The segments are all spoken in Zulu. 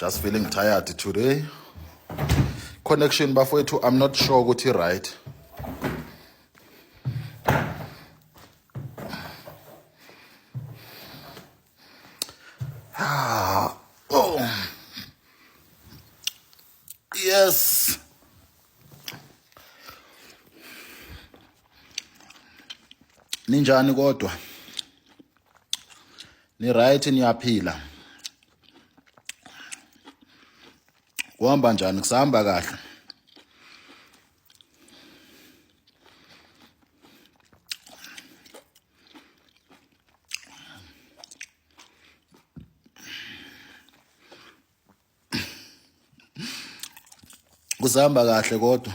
just feeling tired today connection bafowethu i'm not sure ukuthi right ah, oh. yes ninjani kodwa ni right niyaphila kuhamba njani kusahamba kahle kusahamba kahle kodwa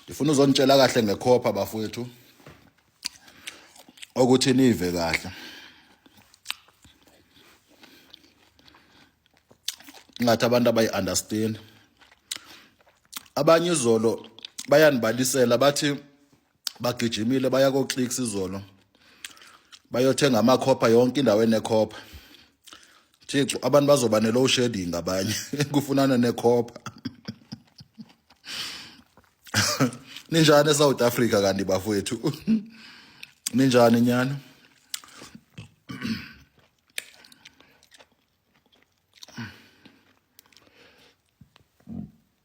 ngifuna uzonitshela kahle ngekhopha bafowethu ukuthi nive kahle ngathi abantu abayi-understand abanye izolo bayanibalisela bathi bagijimile baya koclicks izolo bayothenga amakhopha yonke indawo enekhopha thixo abantu bazoba ne-low shading abanye kufunana nekhopha ninjani esouth africa kanti bafowethu ninjani nyana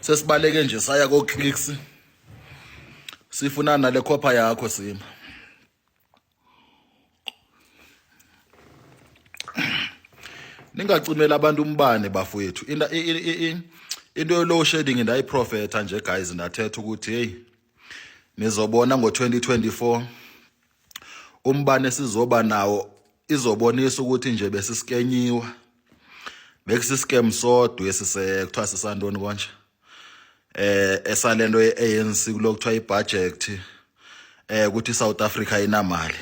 sesibaleke nje saya ko clicks sifuna nale khopha yakho sima ningacimela abantu umbane bafowethu into into yolow shading ndayiprofetha nje guys ndathetha ukuthi hey nizobona ngo2024 umbane sizoba nawo izobonisa ukuthi nje besisikenyiwa bekusiscam sodwa esise kuthiwa sisantoni konje eh esalento ye-ANC kulokuthiwa ibudget eh ukuthi iSouth Africa inamali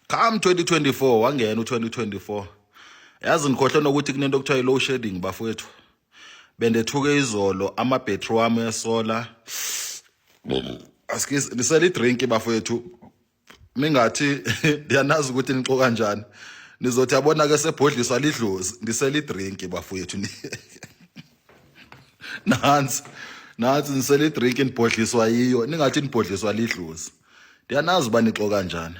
come 2024 wangena u2024 yazi ngikhohle nokuthi kunento okuthiwa i-low shedding bafowethu bendethuke izolo amabhetri wami esola askies nisele idrink bafowethu mingathi ndiyanazi ukuthi nixo kanjani nizothi yabona ke sebhodliswa lidlozi ndisele idrink bafowethu nansi nansi nisele idrink nibhodliswa yiyo ningathi nibhodliswa lidlozi ndiyanazi uba nixo kanjani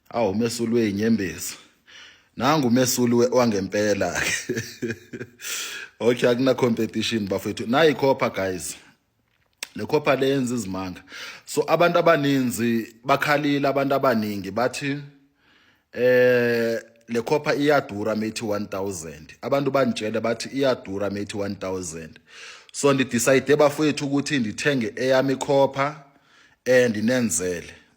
Awu mesulu wenyembezi. Nangu mesulu wangempela ke. Okay akuna competition bafethu. Nayi copper guys. Le copper lenza izimanga. So abantu abaninzi bakhalile abantu abaningi bathi eh le copper iyadura methi 1000. Abantu banitshele bathi iyadura methi 1000. So ndi decide bafethu ukuthi ndithenge eyami copper and inenzele.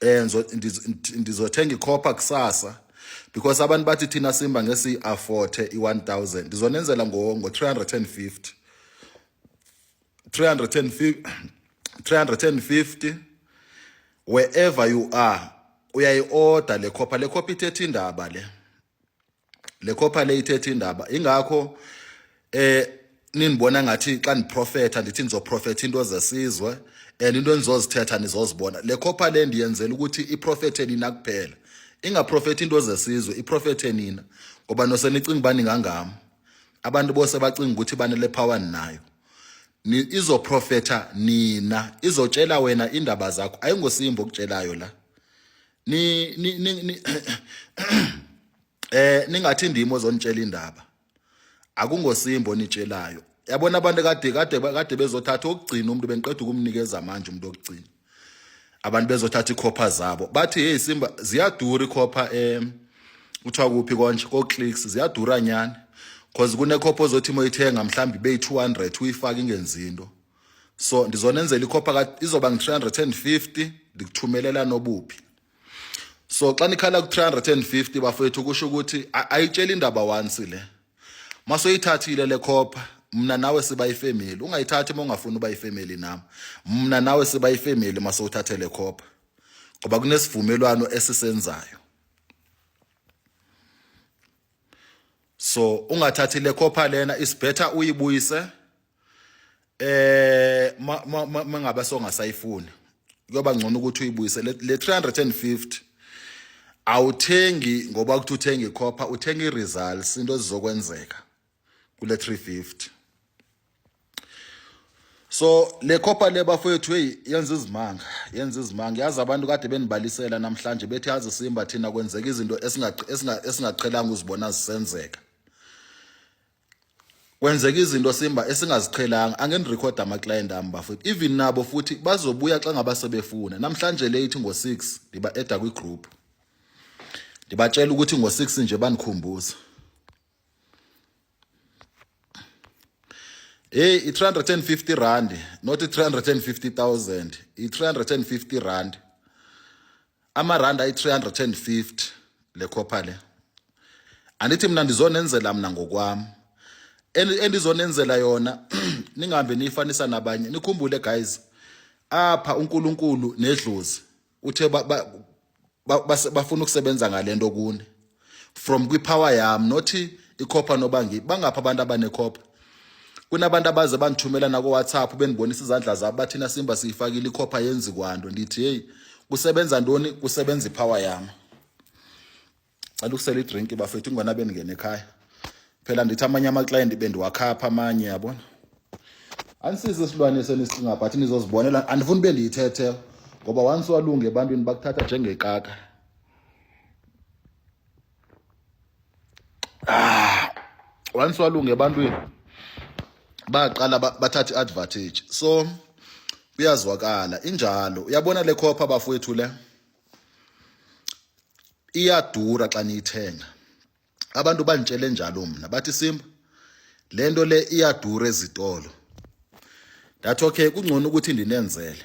eh ndizothenga ikhopha kusasa because abantu bathi thina simba ngesi afford i1000 ndizonenzela ngo ngo 350 350 350 wherever you are uyayi order le khopha le khopha ithethe indaba le le copper le ithethe indaba ingakho eh ninibona ngathi xa niprofetha ndithi nizoprofetha into zesizwe and into enizozithetha nizozibona le copper le ndiyenzela ukuthi iprofethe nina kuphela ingaprofethi into zesizwe iprofethe nina ngoba nosenicinga ubani ngangami abantu bose bacinga ukuthi banele power ninayo izoprofetha nina izotshela wena indaba zakho ayingosimbo okutshelayo la ni ni ni eh ningathi ndimo ozonitshela indaba akungosimbo nitshelayo yabona abantu kade kade kade bezothatha okugcina umuntu bengiqeda ukumnikeza manje umuntu okugcina abantu bezothatha ikhopha zabo bathi hey simba ziyadura ikhopha em kuthiwa kuphi konje ko clicks ziyadura nyani cause kunekhopha ozothi moyithenga mhlambi be 200 uyifaka ingenzi into so ndizonenzela ikhopha ka izoba ngi-350 ndikuthumelela nobuphi so xa nikhala ku-350 bafowethu kusho ukuthi ayitsheli indaba once le masoyithathile le khopha mna nawe siba ifamily ungayithathi uma ungafuni uba ifamily nam mna nawe siba ifamily masowuthathe le khopha ngoba kunesivumelwano esisenzayo so ungathathi le khopha lena is better uyibuyise eh mangabe songasayifuni kuyoba ngcono ukuthi uyibuyise le 350 awuthengi ngoba ukuthi uthenga ikhopha uthenga iresults into ezizokwenzeka kule 350 so le khopha le bafowethu hey yenza izimanga yenza izimanga yazi abantu kade benibalisela namhlanje bethi yazi simba thina kwenzeka izinto esingaqhelanga uzibona zisenzeka kwenzeka izinto simba esingaziqhelanga angeni record ama client ami bafethu even nabo futhi bazobuya xa ngaba sebefuna namhlanje late ngo 6 ndiba edda kwi group ndibatshela ukuthi ngo 6 nje banikhumbuza Hey i 350 rand not 350000 i 350 rand amarandi ayi-350 le copper le andithi mina ndizonenzela mna ngokwam endizonenzela yona ningahambe niyifanisa nabanye nikhumbule guys apha uNkulunkulu nedlozi uthe bafuna ukusebenza ngalento kuni from kwipower yam not ikhopha nobangi bangapha abantu abanekhopha kunabantu abaze bandithumela nakowhatsapp bendibonisa izandla zabo bathina simba siyifakile ikhopha yenzi kwanto ndithi heyi kusebenza ntoni kusebenza ipower yam cela ukusela idrink bafethu ingona bendingena ekhaya phela ndithi amanye amaklayenti bendiwakhapha amanye yabona anisizi isilwane senisinga but nizozibonela andifuni ube ndiyithethe ngoba once walunge ebantwini bakuthatha njengekaka ah once walunge ebantwini baqala bathatha iadvantage so kuyazwakala injalo uyabona le khopha bafowethu le iyadura xa niyithenga abantu bangitshele njalo mina bathi simba lento le iyadura ezitolo that okay kungcono ukuthi ndinenzele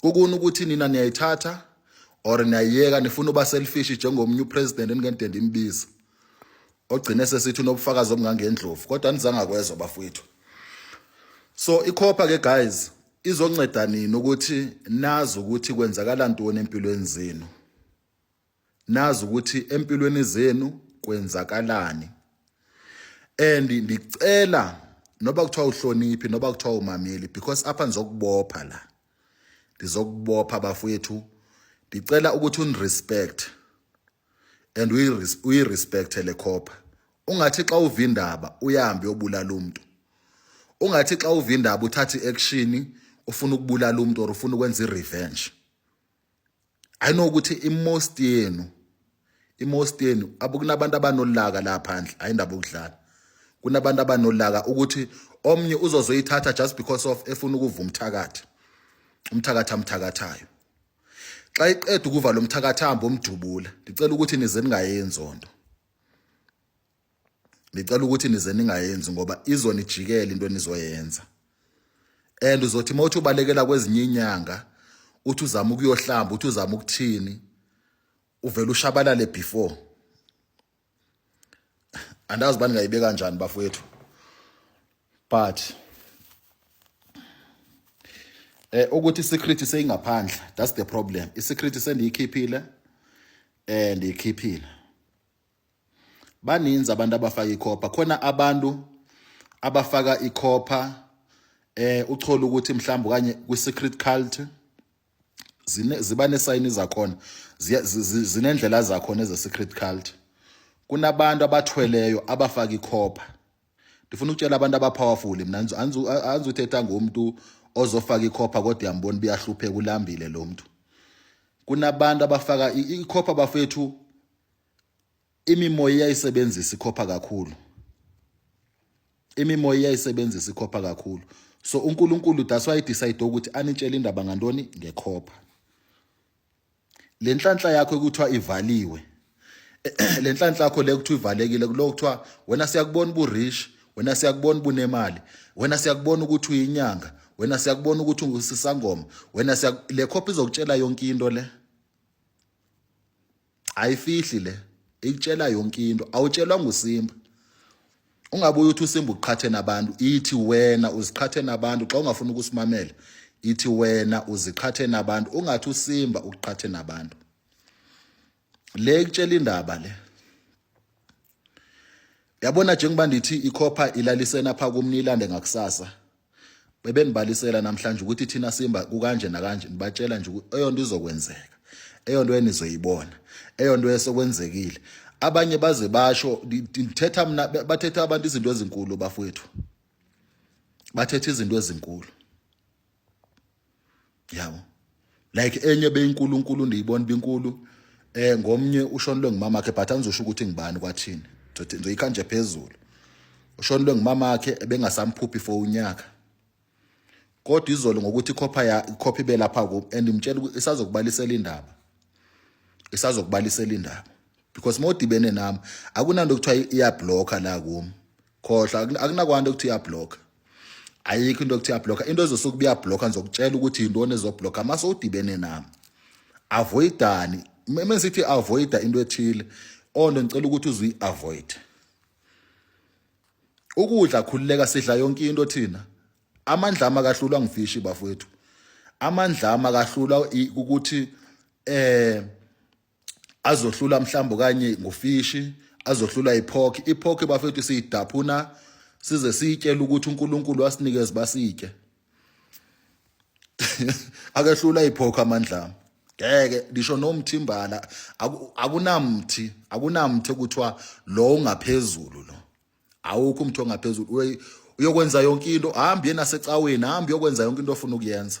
kukuni ukuthi nina niyayithatha or niyayiyeka nifuna uba selfish njengomunye upresident eningende ndimbiza ogcine sesithi unobufakazi obungangendlovu kodwa nizangakwezwa bafowethu so ikhopha ke guys izonceda nini ukuthi nazi ukuthi kwenzakala ntoni empilweni zenu nazi ukuthi empilweni zenu kwenzakalani and ndicela noba kuthiwa uhloniphi noba kuthiwa umameli because apha ndizokubopha la ndizokubopha bafowethu ndicela ukuthi unirespect and uyirespecte le copper ungathi xa uva indaba uyahambe uyobulala umuntu ungathi xa uva indaba uthathe i-action ufuna ukubulala umuntu or ufuna ukwenza i-revenge I know ukuthi imost yenu imost yenu abukunabantu abanolaka la phandle ayindaba ukudlala kunabantu abanolaka ukuthi omnye uzozoyithatha just because of efuna ukuva umthakathi umthakathi amthakathayo xa iqeda ukuva lo mthakathi hambe omdubula ndicela ukuthi nize ningayenzi onto ngicela ukuthi nize ningayenzi ngoba izonijikela into enizoyenza and uzothi uma uthi ubalekela kwezinye inyanga uthi uzama ukuyohlamba uthi uzama ukuthini uvele ushabalale before andazi bani ngayibeka kanjani bafowethu but eh ukuthi secret seyingaphandle that's the problem i secret sendiyikhiphile eh ndiyikhiphile baninzi abantu abafaka ikhopha khona abantu abafaka ikhopha eh uthole ukuthi mhlawumbe kanye kwi secret cult ziba nesayini zakhona zinendlela zakhona eze secret cult kunabantu abathweleyo abafaka ikhopha ndifuna ukutshela abantu abapowerful mina anzi uthetha ngomuntu ozofaka ikhopha kodwa yambona buyahlupheka ulambile lo mntu kunabantu abafaka ikhopha bafethu imimoya iyayisebenzisa ikhopha kakhulu imimoya iyayisebenzisa ikhopha kakhulu so uNkulunkulu that's why decide ukuthi anitshele indaba ngantoni ngekhopha lenhlanhla yakho ekuthiwa ivaliwe lenhlanhla yakho le kuthiwa ivalekile kulo kuthiwa wena siyakubona bu rich wena siyakubona bunemali wena siyakubona ukuthi uyinyanga wena siyakubona ukuthi ungusisangoma wena le khopha izokutshela yonke into le ayifihli le ikutshela yonke into awutshelwa ngusimba ungabuye uthi usimba uqhathe nabantu ithi wena uziqhathe nabantu xa ungafuna ukusimamela ithi wena uziqhathe nabantu ungathi usimba uqhathe nabantu le ikutshela indaba le yabona njengoba ndithi ikhopha ilalisena pha kumni ilande ngakusasa bebenibalisela namhlanje ukuthi thina simba kukanje nakanje nibatshela nje ukuthi eyonto izokwenzeka eyonto enizoyibona eyonto esokwenzekile abanye baze basho ngithetha mina bathetha abantu izinto ezinkulu bafowethu bathetha izinto ezinkulu yabo like enye beyinkulunkulu ndiyibona binkulu eh ngomnye ushonelwe ngumama wakhe but angizosho ukuthi ngibani kwathini ngizothi ngizoyikha nje phezulu ushonelwe ngumama wakhe ebengasamphuphi for unyaka kodwa izolo ngokuthi ikhopha ya ikhopha ibe lapha ku and imtshela isazokubalisela indaba isazokubalisela indaba because modibene nami akunanto kuthiwa iyablocker la kum khohla akunakwanda ukuthi uyablocker ayikho into okuthiya blocker into ezosuke kuya blocker ngizokutshela ukuthi yintoni ezoblocker mase udibene nami avoidani meme sithi avoida into ethile onto ngicela ukuthi uzuyi avoid ukudla khululeka sidla yonke into thina amandla ama kahlulwa ngifishi bafowethu amandla ama kahlulwa ukuthi eh azohlula mhlawumbe kanye ngofishi azohlula iphokhi iphokhi bafethu siyidaphuna size siyitshele ukuthi uNkulunkulu wasinikeza basike akehlula iphokho amandla ngeke ngisho nomthimbala akunamthi akunamthi okuthiwa lo ungaphezulu lo awukho umthi ongaphezulu uyokwenza yonke into hambi yena secaweni hambi uyokwenza yonke into ofuna ukuyenza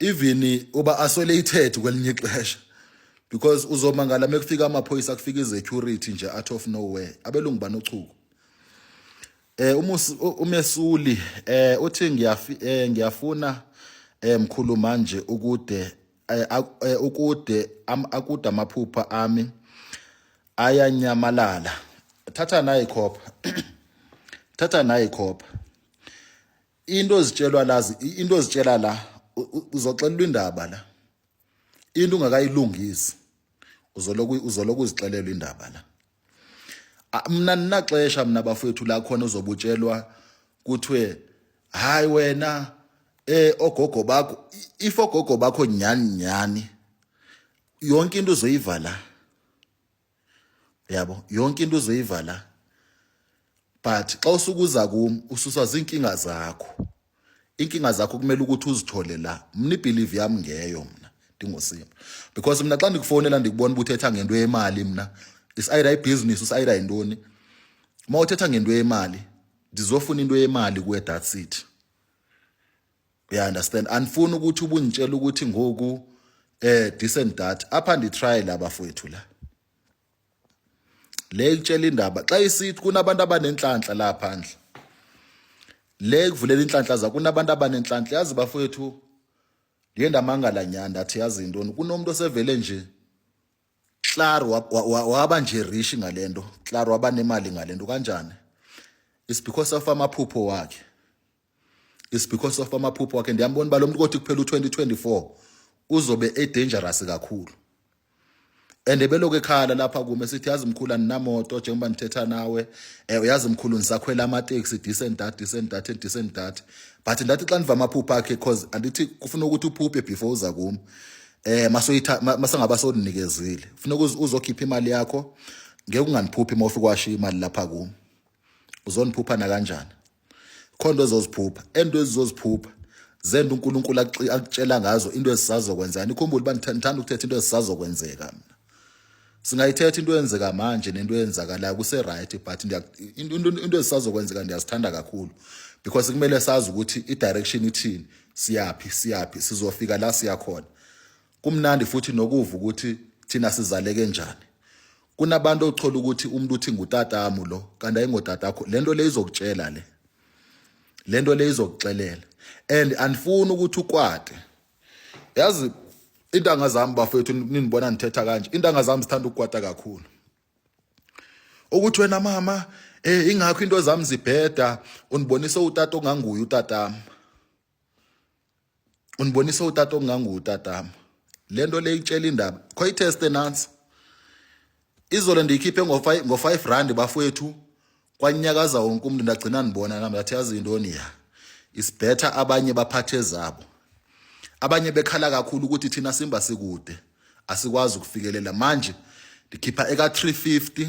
even uba isolated kwelinye ixesha because uzomangala mekufika amaphoyisa kufika izecurity nje out of nowhere abelungu banochuku eh umesuli eh uthi ngiyafi eh, ngiyafuna eh mkhulu manje ukude eh, eh, ukude akude amaphupha ami ayanyamalala thatha nayi khopha thatha nayi khopha into ozitshelwa la into ozitshela la uzoxelelwa indaba la into ungakayilungisi uzoloku uzoloku uzixelelwa indaba la mina ninaxesha mina bafowethu la khona uzobutshelwa kuthiwe hayi wena eh ogogo bakho if ogogo bakho nyani nyani yonke into uzoyivala yabo yonke into uzoyiva la but xa usukuza kum ususwa ziinkinga zakho inkinga zakho kumele ukuthi uzithole la mna ibhilivi yam ngeyo mna ndingosima because mna xa ndikufowunela ndikubona uba uthetha ngento yemali mna isayida ibhizinisi usayida yintoni uma uthetha ngento yemali ndizofuna into yemali kuwe that's it uya understand andifuni ukuthi ubungitshela ukuthi ngoku eh decent data apha nditry la bafowethu la le kutshela indaba xa isithi kunabantu abanenhlanhla la phandle le kuvulela inhlanhla za kunabantu abanenhlanhla yazi bafowethu ndiye ndamangala nyani ndathi yazi intoni kunomuntu osevele nje klar waba nje rishi ngale nto klar waba nemali ngale nto kanjani is because of amaphupho wakhe is because of amaphupho wakhe ndiyambona uba lo mntu kothi kuphela u-2024 uzobe edangerous kakhulu and ebeloku ekhala lapha kume sithi yazi mkhulu aninamoto njengoba ndithetha nawe um uyazi mkhulu ndisakhwela amateksi decent dat decent dat and decent dat but ndathi xa ndiva amaphupha akhe because andithi kufuna ukuthi uphuphe before uza kum um masengaba sodinikezile funeka uzokhipha imali yakho ngeke ungandiphuphi uma ufike washiya imali lapha kum uzoniphupha nakanjani khonto ezoziphupha ento ezizoziphupha zenda uNkulunkulu akutshela ngazo into ezisazokwenzeka nikhumbule uba ngithanda ukuthetha into ezisazokwenzeka mina singayithetha into eyenzeka manje nento eyenzakalayo kuse-right but into ezisazokwenzeka ndiyazithanda kakhulu because kumele sazi ukuthi i-direction ithini siyaphi siyaphi sizofika la siyakhona Kumnandi futhi nokuva ukuthi thina sizaleke njani. Kunabantu othola ukuthi umuntu uthi ngutatamu lo kanti ayingotatakho. Lento le izokutshela le. Lento le izokuxelela. And andifuni ukuthi ukwate. Yazi intanga zami bafethu ninibona nithetha kanje. Intanga zami sithanda ukukwata kakhulu. Ukuthi wena mama eh ingakho into zami zibheda unibonisa utata onganguye utatami. unibonisa utata okunganguwo utatama le nto le itshela indaba kho iteste nansi izolo ndiyikhiphe ngo-five rand bafowethu kwanyakaza wonke umntu ndagcina ndibona nam ndathi yazi yintoni ya isibhetha abanye baphathe zabo abanye bekhala kakhulu ukuthi thina simba sikude asikwazi ukufikelela manje ndikhipha eka-350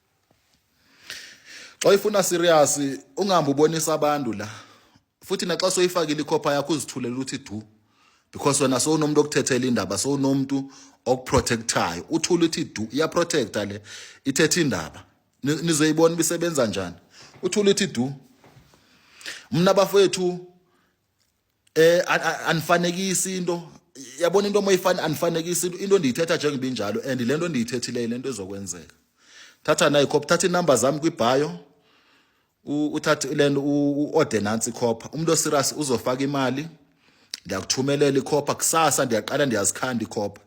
xa ifuna serious ungahambi ubonisa abantu la futhi naxa soyifakile ikhopha yakho uzithulela ukuthi du because wena sowunomuntu okuthethela indaba sowunomuntu okuprotectayo uthula uthi du iyaprotecta le ithetha indaba nizoyibona bisebenza njani uthula uthi du mna bafowethu eh anifanekisi into yabona into moyifana anifanekisi into into endiyithetha njengoba injalo and lento endiyithethileyo lento ezokwenzeka thatha nayi copy thatha inumber zami kwi bio uthatha lento uorder nansi copy umuntu oserious uzofaka imali ngiyakuthumelela ikhopha kusasa ndiyaqala ndiyazikhanda ikhopha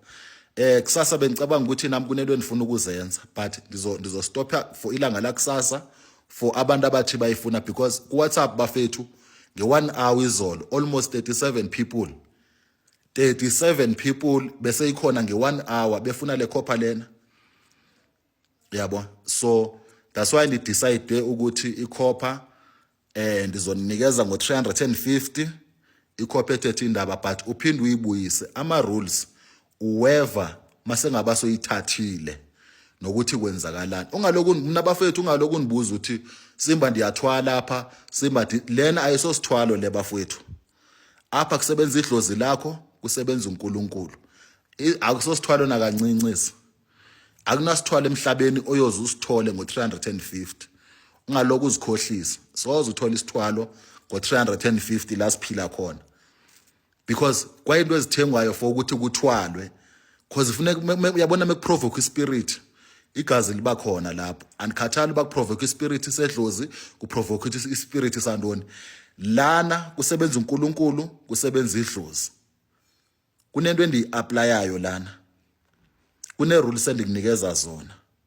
eh kusasa bengicabanga ukuthi nami kunento endifuna ukuzenza but ndizo ndizostopha for ilanga la kusasa for abantu abathi bayifuna because ku WhatsApp bafethu nge 1 hour izolo almost 37 people 37 people bese ikhona nge 1 hour befuna le copper lena yabo so that's why ni decide ukuthi i copper eh ndizoninikeza ngo 350 ikhophe ethethe indaba but uphinde uyibuyise ama rules uweva masengabe asoyithathile nokuthi kwenzakalani ungalokhu mina bafethu ungalokhu nibuza ukuthi simba ndiyathwala lapha simba lena ayisosithwalo le bafethu apha kusebenza idlozi lakho kusebenza uNkulunkulu akusosithwalo nakancincis akunasithwalo emhlabeni oyoze usithole ngo350 ungalokhu uzikhohlisa soze uthole isithwalo ngo350 la siphila khona because kwayinto ezithengwayo for ukuthi kuthwalwe because funeka uyabona mekuprovoke ispirit igazi liba khona lapho andikhathali uba kuprovoke ispirit sedlozi kuprovoke ispirit santoni lana kusebenza uNkulunkulu kusebenza idlozi kunento endiyiaplayayo lana kune rules endikunikeza zona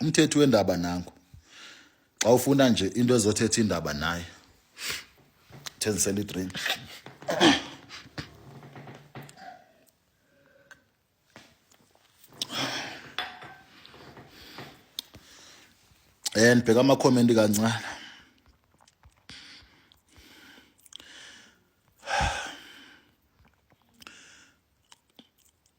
umthethi wendaba nangu xa ufuna nje into ezothetha indaba naye thenzisela idrink and bheka amakhomenti kancane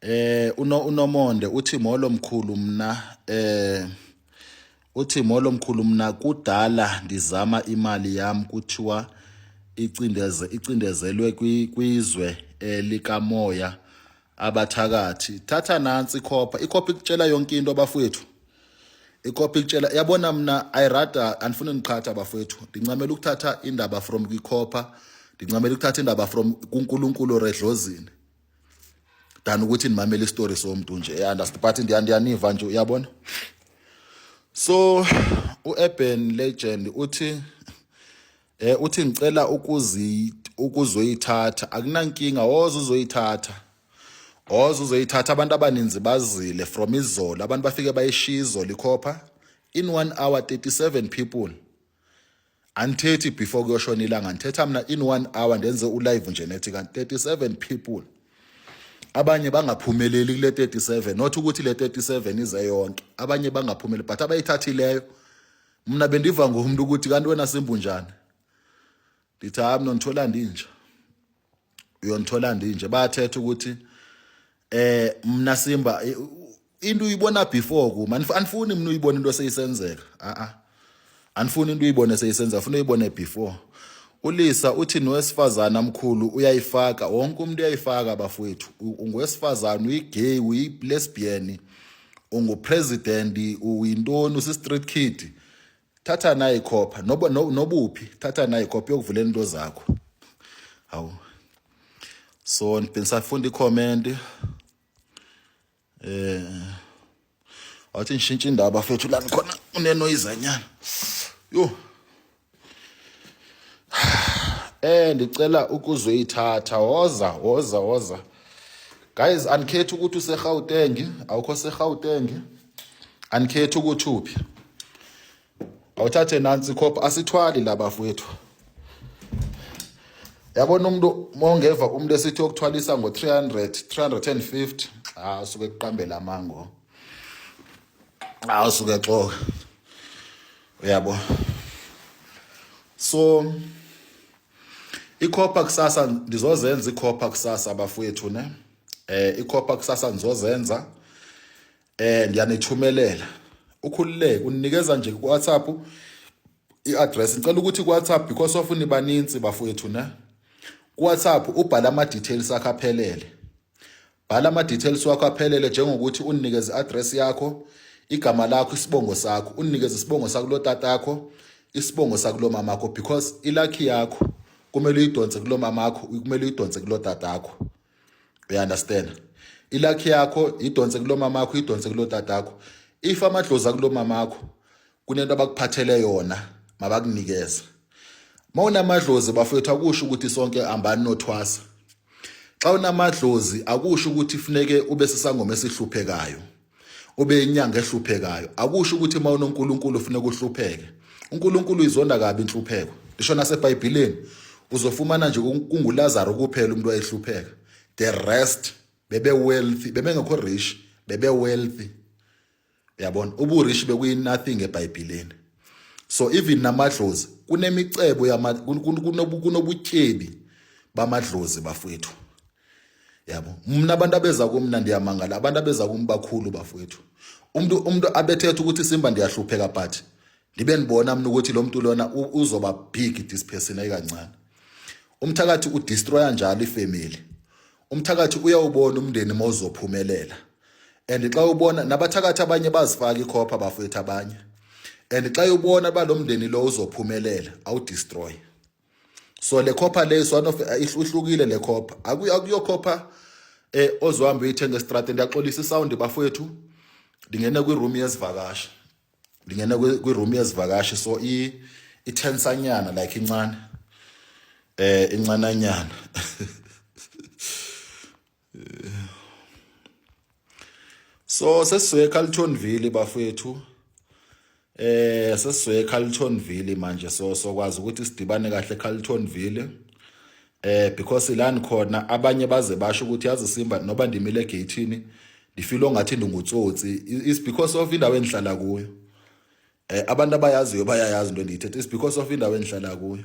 Eh uno unomonde uthi molo mkhulu mna eh uthi molo mkhulu mna kudala ndizama imali yam kuthiwa icindeze icindezelwe kwizwe eh, likamoya abathakathi thatha nansi ikhopha ikhopha ikutshela yonke into abafowethu ikhopha ikutshela yabona mna i rather andifuni ndiqhatha abafowethu ndincamela ukuthatha indaba from kwikhopha ndincamela ukuthatha indaba from kuNkulunkulu redlozini than ukuthi nimamele istory somuntu nje eh, understand but ndiyaniva nje uyabona so uurban legend uthi eh uthi ngicela ukuzi ukuzoyithatha akunankinga woza uzoyithatha woza uzoyithatha abantu abaninzi bazile from izolo abantu bafike bayishiya izolo ikhopha in 1 hour 37 people andithethi before kuyoshona ilanga ndithetha mna in one hour ndenze ulive nje nethi kanti 37 people abanye bangaphumeleli kule 37 not ukuthi le 37 ize yonke abanye bangaphumeleli but abayithathileyo mna bendiva ngomntu ukuthi kanti wena simbunjani ndithi hayi mna ndithola ndinja uyonithola ndinje bayathetha ukuthi eh mina simba into uyibona before kuma anifuni mina uyibona into seyisenzeka a a anifuni into uyibone seyisenzeka funa uyibone before ulisa uthi nowesifazana mkhulu uyayifaka wonke umuntu uyayifaka abafowethu ungowesifazana uyigay uyilesbian ungupresident uyintoni usi-street kid thatha nayi khopha noba nobuphi thatha nayi khopha yokuvula into zakho hawu so ngisafunda i-comment eh wathi ngishintshe indaba fethu la ngikhona unenoyizanyana yo eh ndicela ukuzoyithatha woza woza woza guys anikhethi ukuthi useGauteng awukho seGauteng anikhethi ukuthi uphi awuthathe nansi khopha asithwali la bafowethu yabona umuntu mongeva umuntu esithi yokuthwalisa ngo-300 350 ah usuke kuqambela amango ah usuke xoka uyabo so ikhopha kusasa ndizozenza ikhopha kusasa bafowethu ne eh ikhopha kusasa ngizozenza eh ngiyanithumelela ukhululeke unikeza nje ku WhatsApp i-address ngicela ukuthi ku WhatsApp because of nibaninzi bafowethu ne ku WhatsApp ubhala ama details akho aphelele bhala ama details wakho aphelele njengokuthi unikeze address yakho igama lakho isibongo sakho unikeze isibongo sakulo tatakho isibongo sakulo mamakho because ilakhi yakho kumele uyidonse kulo mamakho kumele uyidonse kulo tatakho you understand ilakhi yakho idonse kulomama wakho idonse kulotatakho if amadlozi akulomama wakho kunento abakuphathele yona mabakunikeze uma unamadlozi bafethu akusho ukuthi sonke hambani nothwasa xa unamadlozi akusho ukuthi funeke ube sisangoma esihluphekayo ube inyanga ehluphekayo akusho ukuthi uma unoNkulunkulu ufuna ukuhlupheke uNkulunkulu izonda kabi inhlupheko lisho naseBhayibhelini uzofumana nje kunguLazaro kuphela umuntu ayehlupheka the rest bebe wealthy bebengekho rich bebe wealthy uyabona ubu rich bekuyi nothing eBhayibhelini so even namadlozi kunemicebo yama kunobutyebi bamadlozi bafowethu yabo mna abantu abeza kumna ndiyamangala abantu abeza kum bakhulu bafowethu umuntu umuntu abethetha ukuthi simba ndiyahlupheka but ndibe ndibona mna ukuthi lo mntu lona uzoba big this person ayikancane umthakathi udestroya njalo ifamily umthakathi uyawubona umndeni mawuzophumelela and xa ubona nabathakathi abanye bazifaka ikhopha bafowethu abanye and xa ubona balomndeni lo uzophumelela awudestroy so le copper le is one of eh, ihlukile le copper akuyo akuyo copper eh ozohamba uyithenga estradeni ndiyaxolisa isound bafowethu ndingena kwi room yezivakashi ndingena kwi room yezivakashi so i ithensanyana like incane eh incananyana so sesizoya eCarltonville bafethu eh sesizoya eCarltonville manje so sokwazi ukuthi sidibane kahle eCarltonville eh because ilani khona abanye baze basho ukuthi yazi Simba noba ndimile gateini ndifilo ngathi ndingutsotsi is because of indawo endihlala kuyo eh abantu abayaziyo bayayazi into endiyithethe is because of indawo endihlala kuyo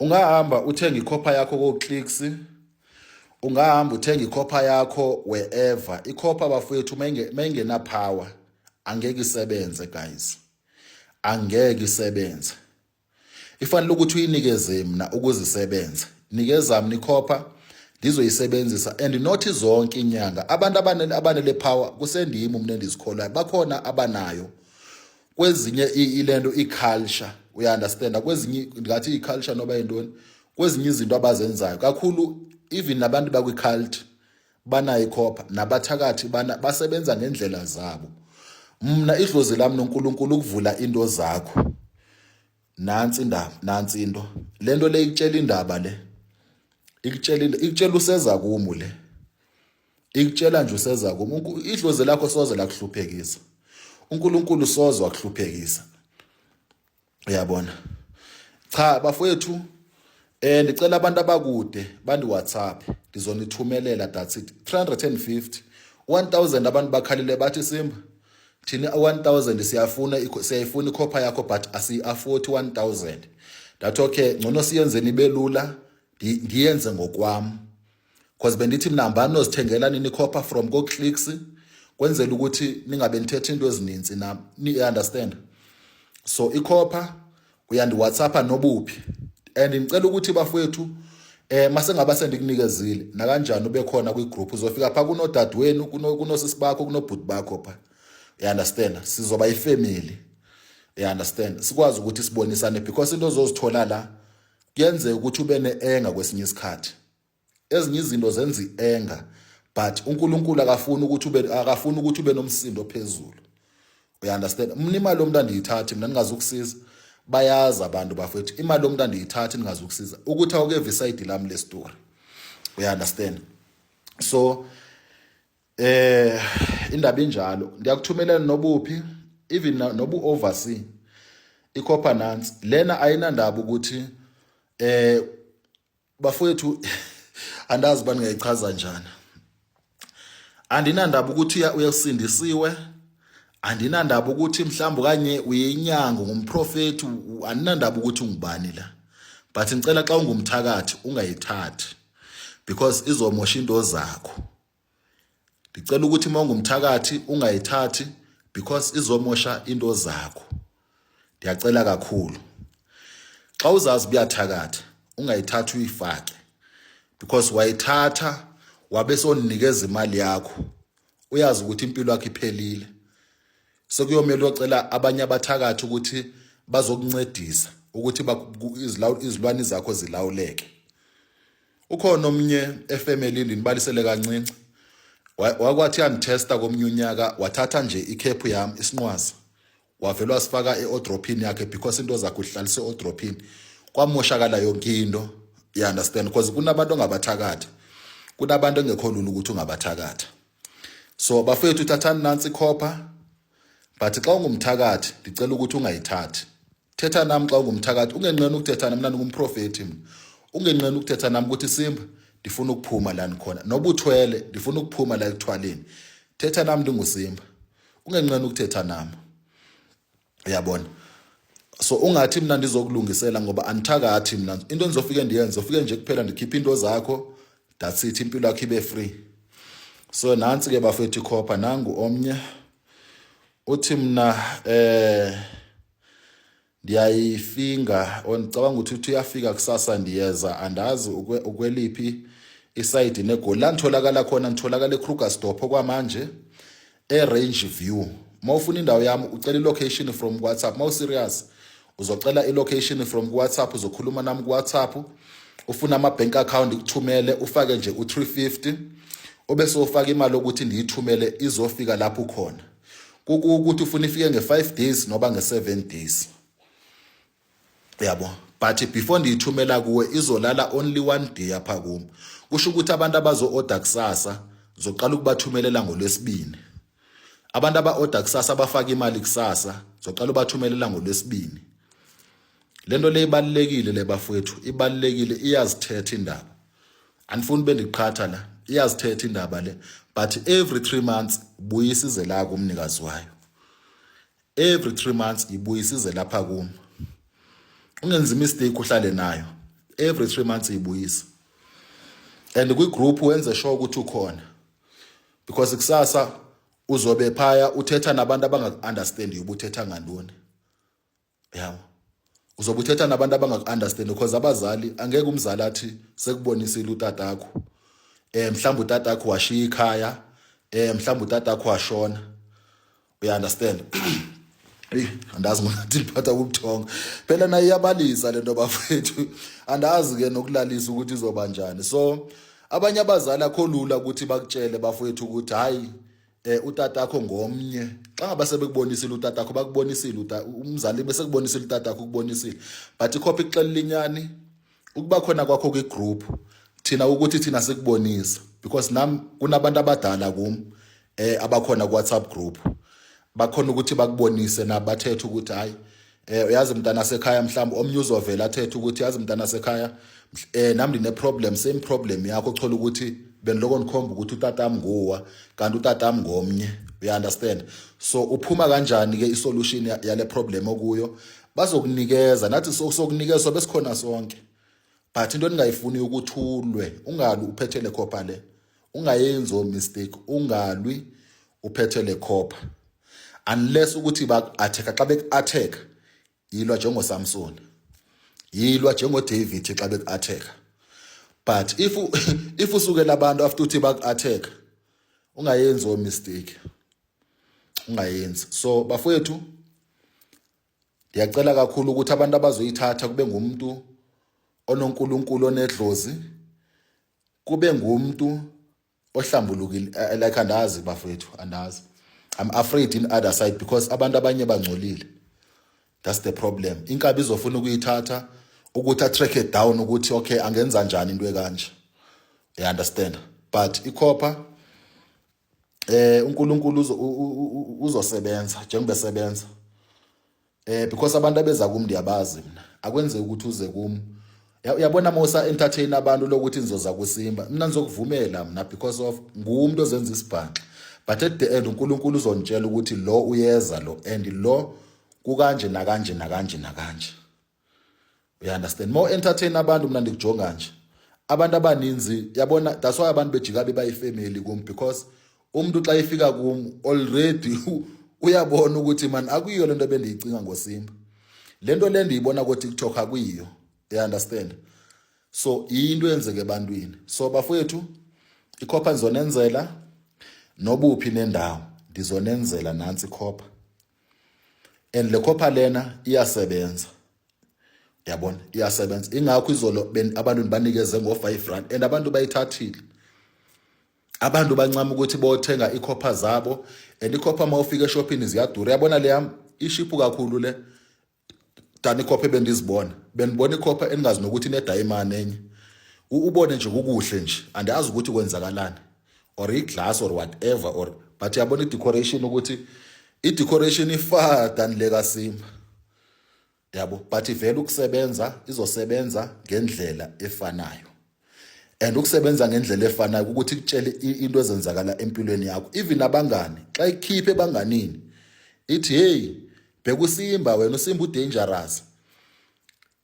ungahamba uthenge ikhopha yakho koclicks ungahamba uthenge ikhopha yakho wherever ikhopha bafowethu mayingena power angeke isebenze guys angeke isebenze ifanele ukuthi uyinikeze mina ukuze isebenze nikeza mina ikhopha ndizoyisebenzisa and not zonke inyanga abantu abanele power kusendimi mina endizikholayo bakhona abanayo kwezinye ilento iculture uya understand kwezinye ngathi iculture noba yintoni kwezinye izinto abazenzayo kakhulu even nabantu bakwi cult banayo ikhopha nabathakathi bana basebenza ngendlela zabo mna idlozi lami noNkulunkulu ukuvula into zakho nansi indaba nansi into lento le ikutshela indaba le ikutshela ikutshela useza kumu le ikutshela nje useza kum idlozi lakho soze lakuhluphekisa unkulunkulu soze wakuhluphekisa uyabona cha bafowethu eh ndicela abantu abakude bandi WhatsApp ngizonithumelela that's it 350 1000 abantu bakhalile bathi simba thina 1000 siyafuna siyayifuna ikhopha yakho but asi afford 1000 that okay ngcono siyenzeni belula ndiyenze ngokwami cause bendithi mina hambani nozithengela nini copper from koclicks kwenzela ukuthi ningabe nithetha into ezininzi na ni understand so icopper uyandiwhatsappa nobuphi and ngicela ukuthi bafowethu eh mase ngaba sendikunikezile nakanjani ube khona kwi group uzofika pha kunodadewenu kunosisi bakho kunobhuti bakho pha you understand sizoba ifamily you understand sikwazi ukuthi sibonisane because into ozozithola la kuyenzeka ukuthi ube ne-enga kwesinye isikhathi ezinye izinto zenza i-enga but unkulunkulu akafuni ukuthi ube akafuni ukuthi ube nomsindo ophezulu uyaunderstand mna imali yomuntu andiyithathi mna ndingazi ukusiza bayazi abantu bafethu imali yomuntu andiyithathi ndingazi ukusiza ukuthi awukeve isayidi lami le story uyaunderstand so Eh indaba injalo ngiyakuthumelela nobuphi even nobu oversee iCopper Nansi lena ayinandaba ukuthi eh bafowethu andazi bani ngayichaza njani andinandaba ukuthi uyasindisiwe andinandaba ukuthi mhlawumbe kanye uyinyanga ngumprofeti andinandaba ukuthi ungubani la but ngicela xa ungumthakathi ungayithathi because izomosha into zakho ndicela ukuthi uma ungumthakathi ungayithathi because izomosha into zakho ndiyacela kakhulu xa uzazi buyathakatha ungayithathi uyifake because wayithatha wabe soninikeza imali yakho uyazi ukuthi impilo yakho iphelile sekuyomele ocela abanye abathakathi ukuthi bazokuncedisa ukuthi izilwane zakho zilawuleke ukhona omnye efamily ndinibalisele kancinci wakwathi yandithesta komnye unyaka wathatha nje ikhephu yam isinqwazi wavele wasifaka e-odrophini yakhe because into zakhe uhlalise e-odrophini kwamoshakala yonke into you understand because kunabantu ongabathakathi kunabantu engekho lula ukuthi ungabathakatha so bafethu thathani nansi ikhopha but xa ungumthakathi ndicela ukuthi ungayithathi thetha nam xa ungumthakathi ungenqeni ukuthetha nam lani ngumprofethi mna ungenqeni ukuthetha nam ukuthi simba ndifuna ukuphuma la ndikhona noba uthwele ndifuna ukuphuma la ekuthwaleni thetha nam ndingusimba ungenqeni ukuthetha nam uyabona so ungathi mina ndizokulungisela ngoba andithakathi mina into endizofike ndiyenze ufike nje kuphela ndikhiphe into zakho that's it impilo yakho ibe free so nansi ke bafethu ikhopha nangu omnye uthi mina eh ndiyayifinga ondicabanga ukuthi uthi uyafika kusasa ndiyeza andazi ukweliphi isayidi negoli la nditholakala khona nditholakala ekrugerstop okwamanje eRange View uma ufuna indawo yami ucela ilocation from kuWhatsApp uma userious uzocela ilocation from kuWhatsApp uzokhuluma nami kuWhatsApp ufuna ama-bank account kuthumele ufake nje u-350 obe sofaka imali ukuthi ndiyithumele izofika lapho khona kukuthi ufuna ifike nge-5 days noba nge-7 days yabo but before ndiyithumela kuwe izolala only one day apha kum kusho ukuthi abantu abazo-oda kusasa zoqala ukubathumelela ngolwesibini abantu aba-oda kusasa abafake imali kusasa zoqala ubathumelela ngolwesibini le nto le ibalulekile le bafowethu ibalulekile iyazithetha indaba andifuni ube ndiqhatha la iyazithetha indaba le but every three months buyisa ize la kumnikazi wayo every 3 months ibuyisize lapha kum ungenzi mistake uhlale nayo every 3 months ibuyisa and kwi group wenze sure ukuthi ukhona because kusasa uzobe phaya uthetha nabantu abangaku-understand ubuthetha ngantoni yabo uzobe uthetha nabantu abangaku-understand because abazali angeke umzali athi sekubonisile utatakho um eh, mhlawumbe utatakho washiya ikhaya um eh, mhlawumbe utatakho washona uya understand eyi andazi ngonathi liphatha kubuthongo phela naye iyabalisa le nto bafethu andazi-ke nokulalisa ukuthi izoba njani so abanye abazali akho lula ukuthi bakutshele bafowethu ukuthi hhayi eh utatakho ngomnye xa ngaba sebekubonisile utatakho bakubonisile umzali bese kubonisile utatakho ukubonisile but ikhophi ixelela inyani ukuba khona kwakho kwi group thina ukuthi thina sikubonisa because nam kunabantu abadala kum eh abakhona ku WhatsApp group bakhona ukuthi bakubonise na bathethe ukuthi hayi eh uyazi mntana sekhaya mhlawumbe omnye uzovela athethe ukuthi yazi mntana sekhaya eh nam ndine problem same problem yakho thola ukuthi beniloko nikhomba ukuthi utatam nguwa kanti utatam ngomnye uya understand so uphuma kanjani ke isolution yale problem okuyo bazokunikeza nathi sokunikezwa besikhona sonke but into endingayifuni ukuthulwe ungalwi uphethe le khopha le ungayenzi o mistake ungalwi uphethe le khopha unless ukuthi baku-atheka xa beku-atheka yilwa njengosamson yilwa njengodavid xa beku-atheka but if if usukela abantu after uthi baku-atheka ungayenzi o mistake ungayenzi so bafowethu ndiyacela kakhulu ukuthi abantu abazoyithatha kube ngumntu ononkulunkulu onedlozi kube ngumntu ohlambulukile eh, like andazi bafowethu andazi i'm afraid in other side because abantu abanye bangcolile that's the problem inkabi izofuna ukuyithatha ukuthi atrack it down ukuthi okay angenza njani into ekanje you understand but ikhopha eh uNkulunkulu uzosebenza njengoba esebenza eh because abantu abeza kum ndiyabazi mina akwenzeki ukuthi uze kum uyabona mosa entertain abantu lokuthi nizoza kusimba mina ngizokuvumela mina because of ngumuntu ozenza isibhaxa but at the end uNkulunkulu uzonitshela ukuthi lo uyeza lo and lo kukanje nakanje nakanje nakanje uyaunderstand more entertain abantu mna ndikujonga nje abantu abaninzi yabona that's why abantu bejika bebayifamily kum because umuntu xa efika kum already uyabona ukuthi mani akuyiyo le nto bendiyicinga ngosimba le nto le ndiyibona kotiktok akuyiyo uyaunderstand so yinto eyenzeke ebantwini so bafowethu ikhopha ndizonenzela nobuphi nendawo ndizonenzela nantsi ikhopha and le copper lena iyasebenza yabona iyasebenza ingakho izolo abantu banikeze ngo-5 rand and abantu bayithathile abantu bancama ukuthi bothenga ikhopha zabo and ikhopha uma ufika eshophini ziyadura yabona le yami ishiphu kakhulu le dani ikhopha ebendizibona bendibona ikhopha endingazi nokuthi inedayimane enye ubone nje kukuhle nje andiyazi ukuthi kwenzakalani or iglass or whatever or but yabona idecoration ukuthi idecoration ifar than le kasimba yabo but ivela ukusebenza izosebenza ngendlela efanayo and ukusebenza ngendlela efanayo ukuthi kutshele into ezenzakala empilweni yakho even abangani xa ikhiphe ebanganini ithi hey bheka usimba wena usimba udangerous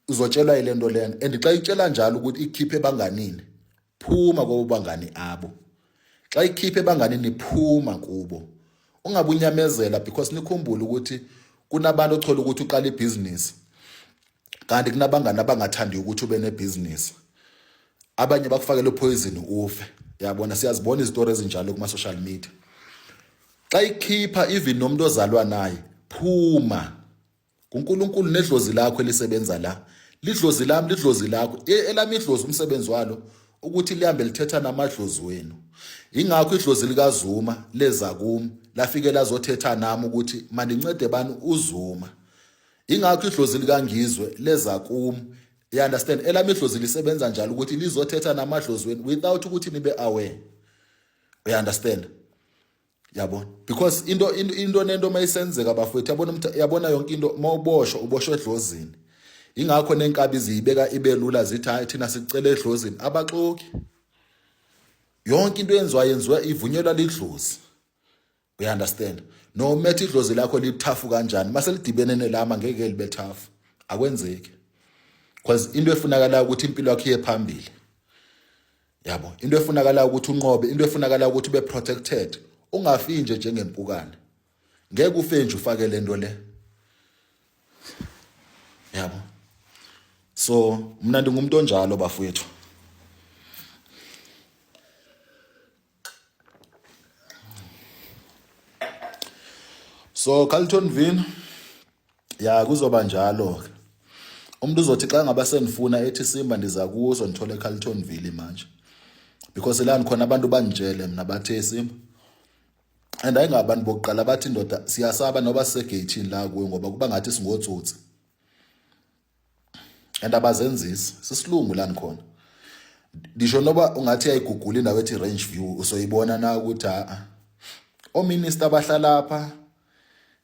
uzotshelwa ile nto lena and xa itshela njalo ukuthi ikhiphe ebanganini phuma kobo bangani abo xa ikhiphe ebanganini phuma kubo ungabunyamezela because nikhumbule ukuthi kunabantu othola ukuthi uqala ibhizinisi kanti kunabangani abangathandi ukuthi ube nebhizinisi abanye bakufakela uphoyizini ufe yabona siyazibona izitori ezinjalo kuma-social media xa ikhipha even nomuntu ozalwa naye phuma kuNkulunkulu nedlozi lakho elisebenza la lidlozi lami lidlozi lakho e, elami idlozi umsebenzi walo ukuthi lihambe lithetha namadlozi wenu ingakho idlozi likazuma leza kumi lafike lazothetha nami ukuthi mandincede bani uzuma ingakho idlozi likangizwe leza kumi you understand elami idlozi lisebenza njalo ukuthi lizothetha namadlozi wenu without ukuthi nibe aware you understand yabona because into into nento mayisenzeka bafowethu yabona umtha yabona yonke into mawuboshwa uboshwe edlozini ingakho nenkabi ziyibeka ibelula zithi hayi thina sicela edlozini abaxoki yonke into yenziwa yenziwa ivunyelwa lidlozi we understand no methe idlozi lakho lithafu kanjani mase lidibene nelama ngeke libe thafu akwenzeki because into efunakala ukuthi impilo yakho iye phambili yabo into efunakalayo ukuthi unqobe into efunakalayo ukuthi ube protected ungafi nje njengempukane ngeke ufe nje ufake lento le yabo so mina ndingumuntu onjalo bafowethu so Carlton Vin ya kuzoba njalo ke umuntu uzothi xa ngaba sendifuna ethi simba ndiza kuzo ndithole eCarlton Ville manje because la ndikhona abantu banditshele mina bathe simba and ayingabantu bokuqala bathi ndoda siyasaba noba sisegeyithini la kuwe ngoba kuba ngathi singotsotsi and abazenzisi sisilungu lani khona ndisho noba ungathi yayigugula indawo ethi range view usoyibona na ukuthi a-a ominister abahlala apha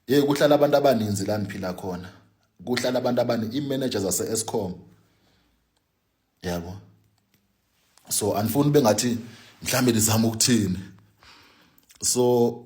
ye kuhlala abantu abaninzi la niphila khona kuhlala abantu abani i-manager zase-escom yabo so andifuni bengathi mhlawumbe ndizama ukuthini so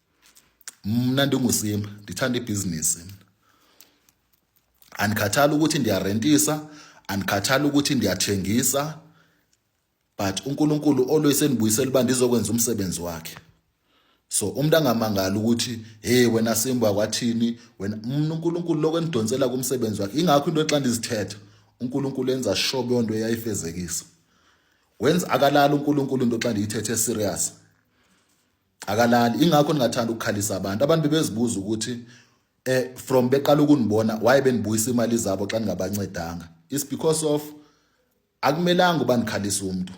mna ndingusimba ndithanda ibhizinisi andikhathali ukuthi ndiyarentisa andikhathali ukuthi ndiyathengisa but uNkulunkulu always endibuyisela uba ndizokwenza umsebenzi wakhe so umuntu angamangala ukuthi hey wena simba kwathini wena mina uNkulunkulu lokho endidonsela kumsebenzi wakhe ingakho into xa ndizithetha uNkulunkulu enza sure beyonto eyayifezekisa wenza akalala uNkulunkulu into xa ndiyithethe serious akalali ingakho ningathanda ukukhalisa abantu abantu bebezibuza ukuthi eh from beqala ukunibona why benibuyisa imali zabo xa ningabancedanga is because of akumelanga uba nikhalisa umuntu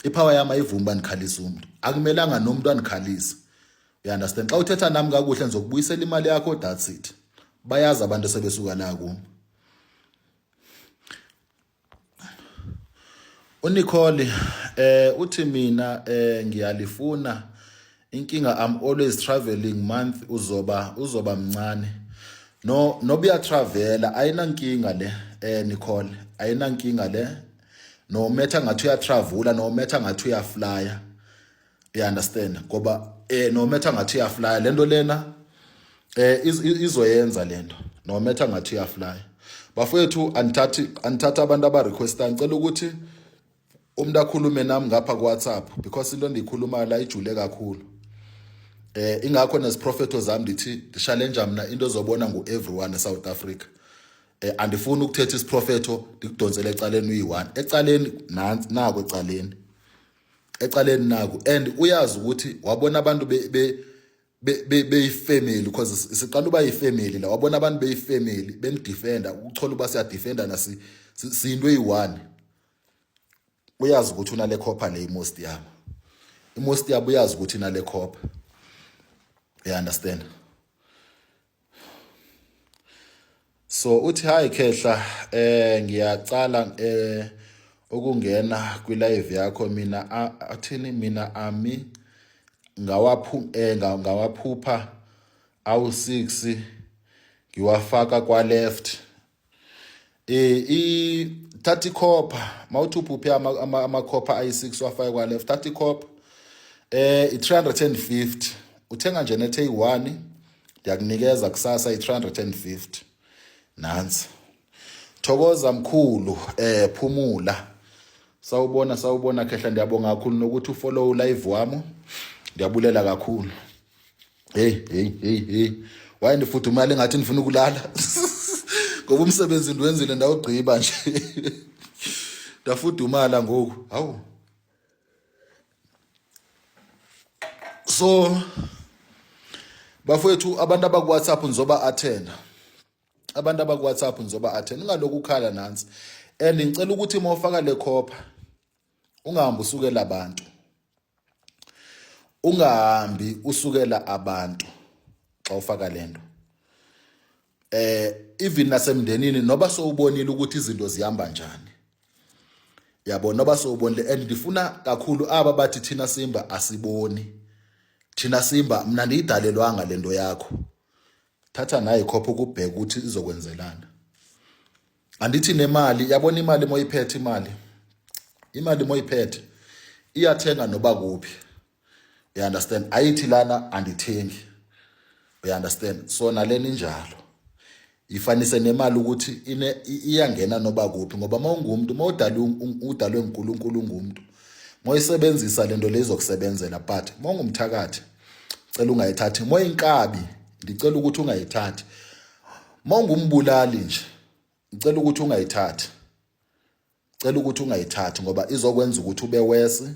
ipower yami ayivumi uba nikhalisa umuntu akumelanga nomuntu anikhalise you understand xa uthetha nami kakuhle ngizokubuyisela imali yakho that's it bayazi abantu sebesuka la kuma UNicole eh uthi mina eh ngiyalifuna inkinga I'm always traveling month uzoba uzoba mncane no nobuya travela ayinankinga le eh Nicole ayinankinga le no metha ngathi uya travela no metha ngathi uya flyer you understand ngoba eh no matter ngathi uyaflya lento lena eh izoyenza lento no matter ngathi uyaflya bafowethu anithathi anithatha abantu aba requesta ngicela ukuthi umuntu akhulume nami ngapha ku WhatsApp because into endiyikhuluma la ijule kakhulu eh ingakho neziprofeto zami ndithi ndishalenja mina into ezobona ngu everyone eSouth Africa eh andifuni ukuthetha isiprofeto ndikudonsele ecaleni uyi1 ecaleni nansi nako ecaleni ecaleni naku and uyazi ukuthi wabona abantu be, be beyifamily because siqala uba yifamily la wabona abantu beyifamily benidefenda ukuthola uba siyadefendana siyinto eyi-one uyazi ukuthi unale copha le imost yabo imost yabo uyazi ukuthi inale copha you understand so uthi hayi khehla eh ngiyacala eh ukungena kwi live yakho mina athini mina ami ngawaphu eh ngawaphupha awu 6 ngiwafaka kwa left eh i thatha ikhopha mawuthi uphuphe amakhopha ayi6 wafaya kwa left thatha ikhopha eh i350 uthenga nje nethe eyi1 ndiyakunikeza kusasa i350 nansi thokoza mkhulu eh phumula sawubona sawubona khehla ndiyabonga kakhulu nokuthi ufollow live wami ndiyabulela kakhulu hey hey hey hey waye ndifudumala engathi ndifuna ukulala ngoba umsebenzi ndiwenzile ndawugqiba nje ndafudumala ngoku hawu so bafowethu abantu abakuwhatsapp ngizoba athena abantu abakuwhatsapp ngizoba athena ingaloku ukhala nansi and ngicela ukuthi mawufaka le khopha ungahambi usukela abantu ungahambi usukela abantu xa ufaka lento eh even nasemndenini noba sowubonile ukuthi izinto zihamba njani yabo noba sowubonile and ndifuna kakhulu aba bathi thina simba asiboni thina simba mina ndiyidalelwanga lento yakho thatha naye khopha ukubheka ukuthi izokwenzelana andithi nemali yabona imali moyiphethe imali imali moyiphethe iyathenga noba kuphi you understand ayithi lana andithengi you understand so nalena injalo ifanise nemali ukuthi ine iyangena noba kuphi ngoba mawungumuntu mawudalwe udalwe uNkulunkulu ungumuntu moyisebenzisa lento lezokusebenzela but mawungumthakathi cela ungayithathi moyinkabi ndicela ukuthi ungayithathi uma ungumbulali nje ngicela ukuthi ungayithathi cela ukuthi ungayithathi ngoba izokwenza ukuthi ube wesi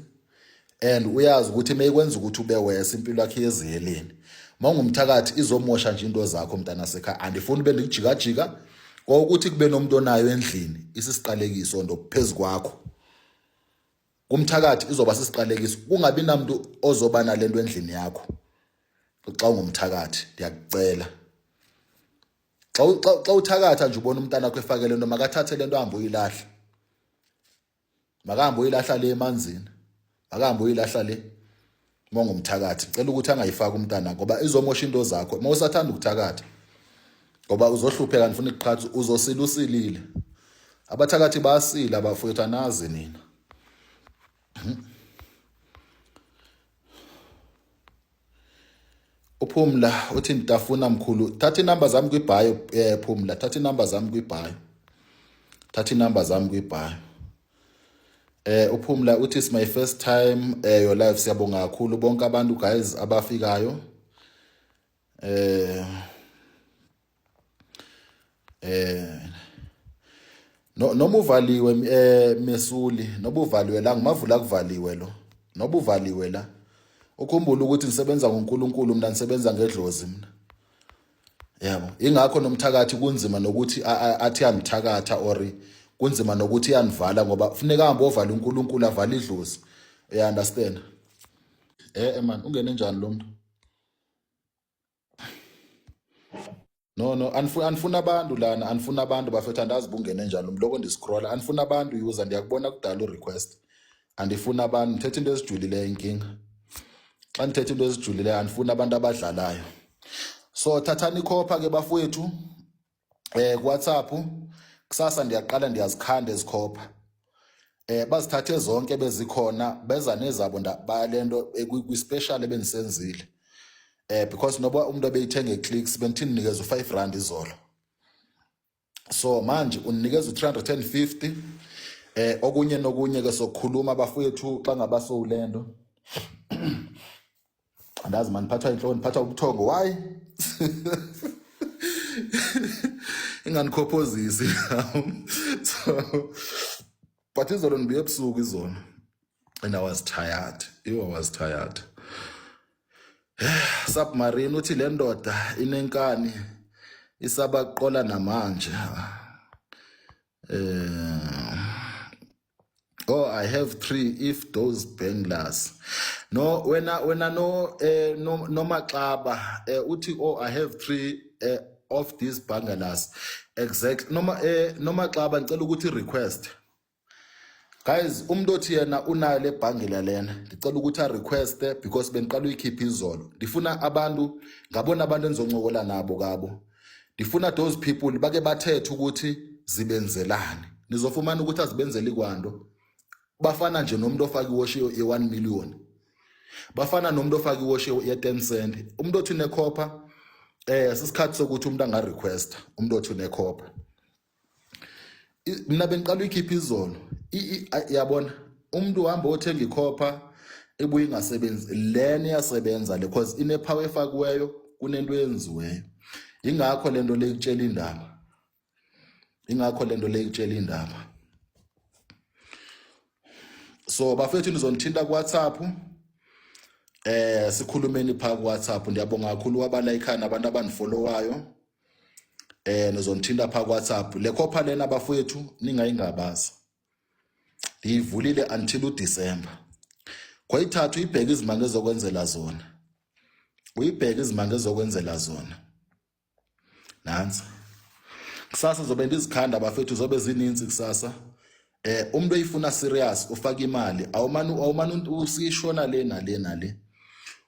and uyazi ukuthi meyikwenza ukuthi ube wesi impilo yakhe yeziheleni mawungumthakathi izomosha nje into zakho mntana sekhaya andifuni ube ndikujikajika kwawukuthi kube nomuntu onayo endlini isisiqalekiso ndo phezu kwakho kumthakathi izoba sisiqalekiso kungabi namuntu ozoba nalento endlini yakho xa ungumthakathi ndiyakucela xa xa uthakatha nje ubona umntana wakho efake lento makathathe lento ahambe uyilahla makahambe uyilahla le emanzini makahambe uyilahla le uma ungumthakathi ngicela ukuthi angayifaki umntana ngoba izomosha into zakho uma usathanda ukuthakatha ngoba uzohlupheka ngifuna iqhathi uzosila usilile abathakathi basile abafowethu anazi nina hmm. uphumla uthi ngitafuna mkhulu thatha inumber zami kwibhayo eh phumla thatha inumber zami kwibhayo thatha inumber zami kwibhayo Eh uphumla uthi it's my first time eh your life siyabonga kakhulu bonke abantu guys abafikayo. Eh eh no noma uvaliwe eh mesuli noba uvaliwe la ngimavula kuvaliwe lo noba uvaliwe la ukhumbula ukuthi ngisebenza ngoNkulunkulu mina ngisebenza ngedlozi mina yabo ingakho nomthakathi kunzima nokuthi athi anithakatha or kunzima nokuthi yanivala ngoba kufuneka hambe ovala uNkulunkulu avala idlozi uya understand eh, eh man ungene njani lo muntu no no anifuna anifuna abantu lana anifuna abantu bafethu andazi bungene njani umloko ndiscrolla anifuna abantu user ndiyakubona kudala urequest andifuni abantu ndithetha into ezijulileyo inkinga xa ndithetha into ezijulileyo andifuni abantu abadlalayo so thathani ikhopha ke bafowethu eh kuwhatsapp kusasa ndiyaqala ndiyazikhanda ezikhopha eh bazithathe zonke bezikhona beza nezabo ndaba lento eh, kwi-special ebendisenzile eh because noba umuntu obeyithenga eclicks bendithini nikeza u5 rand izolo so manje uninikeza u350 eh okunye nokunye ke sokhuluma abafowethu xa ngaba sowulendo andazi mani phatha inhloni phatha ubuthongo why inganikhophozisi so but izolo ndibuye ebusuku izolo and i was tired you i was tired submarine uthi le ndoda inenkani isabaqola namanje eh oh i have three if those banglers no wena wena no eh, no nomaxaba eh, uthi oh i have three eh, of these bangalas exactly noma eh noma xaba ngicela ukuthi request guys umuntu othi yena unayo le bhangela lena ngicela ukuthi a request because bengiqala uyikhipha izolo ndifuna abantu ngabona abantu engizoncokola nabo kabo ndifuna those people bake bathethe ukuthi zibenzelani nizofumana ukuthi azibenzeli kwanto bafana nje nomuntu ofaka iwash ye-one million bafana nomuntu ofaka iwash ye-ten cent umuntu othi unekhopha eh sisikhathi sokuthi umuntu angarequesta umuntu othi unekhopha mina bengiqala uyikhipha izolo yabona umuntu uhamba othenga ikhopha ebuye ingasebenzi lena iyasebenza le cause inepower efakiweyo kunento eyenziweyo ingakho lento le kutshela indaba ingakho lento le ikutshela indaba so bafethu nizonithinta ku WhatsApp eh sikhulumeni pha ku WhatsApp ndiyabonga kakhulu wabala ikhana abantu abandifollowayo eh nizonithinta pha ku WhatsApp le khopha lena bafethu ningayingabaza ngiyivulile until uDecember kwayithathu ibheke izimanga ezokwenzela zona uyibheke izimanga ezokwenzela zona nansi kusasa zobe ndizikhanda bafethu zobe zininzi kusasa eh umuntu oyifuna serious ufaka imali awumani awumani usishona le nale nale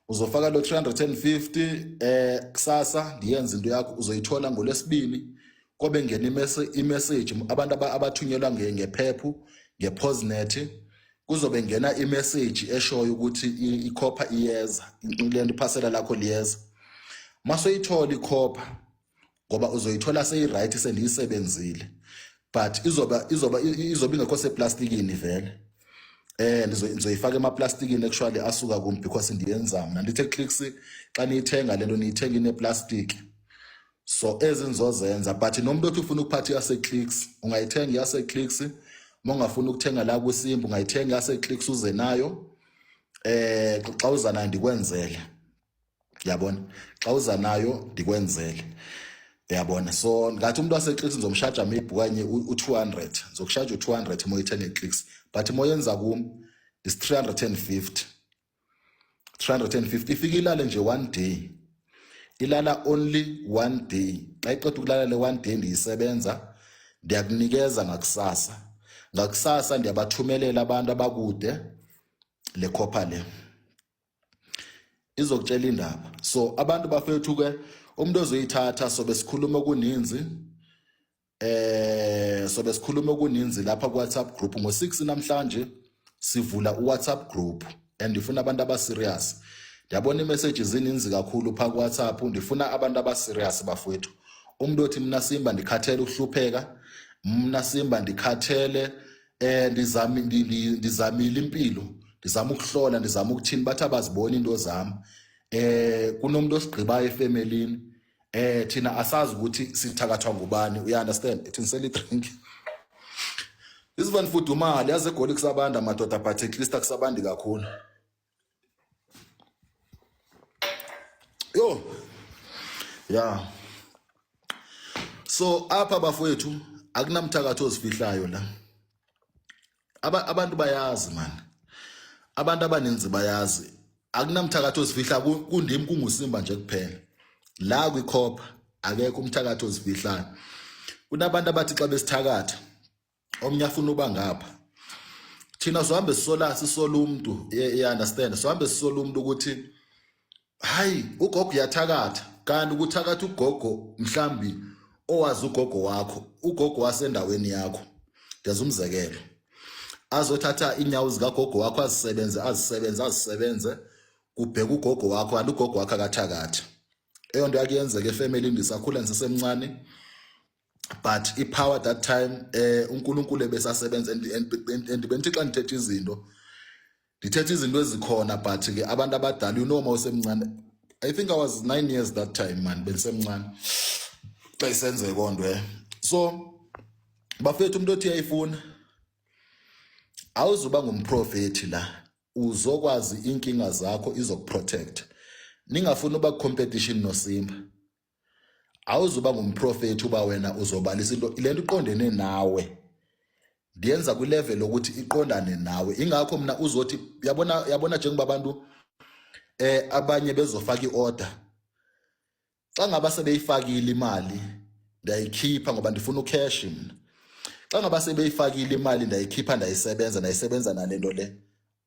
uzofaka lo 350 eh kusasa ndiyenza into yakho uzoyithola ngolesibini kobe ngena imessage abantu abathunyelwa ngephephu ngeposnet kuzobe ngena imessage eshoyo ukuthi ikhopha iyeza lento iphasela lakho liyeza masoyithola ikhopha ngoba uzoyithola seyi-right sendiyisebenzile but izoba izoba izoba ingekho seplastikini vele eh nizoyifaka emaplastikini actually asuka kum because ndiyenzama nandithe clicks xa niyithenga lento niyithenga ineplastic so ezingizozenza but nomuntu othi ufuna ukuphatha yaseclicks ungayithenga yaseclicks uma ungafuna ukuthenga la kwisimba ungayithenga yaseclicks uze nayo eh xa uza nayo ndikwenzele yabona xa uza nayo ndikwenzele yabona so ngathi umuntu waseclicks ngizomshaja maybe kanye u200 ngizokushaja u200 uma uyithenga eclicks but uma yenza kum is 350 350 ifike ilale nje one day ilala only one day xa iqeda ukulala le one day ndiyisebenza ndiyakunikeza ngakusasa ngakusasa ndiyabathumelela abantu abakude le copper le izokutshela indaba so abantu bafethu ke umuntu ozoyithatha sobe sikhuluma okuninzi eh so besikhuluma okuninzi lapha ku WhatsApp group ngo 6 namhlanje sivula u WhatsApp group and ndifuna abantu aba serious ndiyabona iimessage zininzi kakhulu phaa kuwhatsapp ndifuna abantu abaserious bafowethu umntu othi mna simba ndikhathele ukuhlupheka mna simba ndikhathele eh ndizami ndizamile impilo ndizama ukuhlola ndizama ukuthini bathi abaziboni into zami eh kunomuntu osigqibayo efemelini eh thina asazi ukuthi sithakathwa ngubani uya understand ethi ngiseli drink isivan fudumali yaze egoli kusabanda madoda but at least akusabandi kakhulu yo ya so apha bafowethu akunamthakatho ozifihlayo la abantu bayazi mani abantu abaninzi bayazi akunamthakathi ozifihla kundim kungusimba nje kuphela la kwikhopha akekho umthakathi ozifihlayo kunabantu abathi xa besithakatha omnye afuna uba ngapha thina sihambe sisola sisola umuntu e-, e-, understand sihambe sisola umuntu ukuthi hayi ugogo uyathakatha kanti ukuthakatha ugogo mhlambi owazi ugogo wakho ugogo wasendaweni yakho ngenza umzekelo azothatha inyawo zikagogo wakho azisebenze azisebenze azisebenze kubheka ugogo wakho kanti ugogo wakho akathakathi eyo nto yakuyenzeka efemelini ndisakhula ndisesemncane but ipower that time eh uNkulunkulu ebesasebenza and and and- and bengithi xa ndithetha izinto ndithetha izinto ezikhona but ke abantu abadala you know uma usemncane i think i was 9 years that time man bendisemncane xa isenzeka konto eh so bafethu umuntu othi uyayifuna awuzuba ngumprofethi la uzokwazi inkinga zakho izokuprotect ningafuni uba competition nosimba awuzuba ngumprofethi uba wena uzobalisa into le nto iqondene nawe ndiyenza kwilevel lokuthi iqondane nawe ingakho mina uzothi yabona yabona njengoba abantu eh abanye bezofaka iorder xa ngaba sebeyifakile imali ndiyayikhipha ngoba ndifuna ucash mina xa ngaba sebeyifakile imali ndayikhipha ndayisebenza ndayisebenza nalento le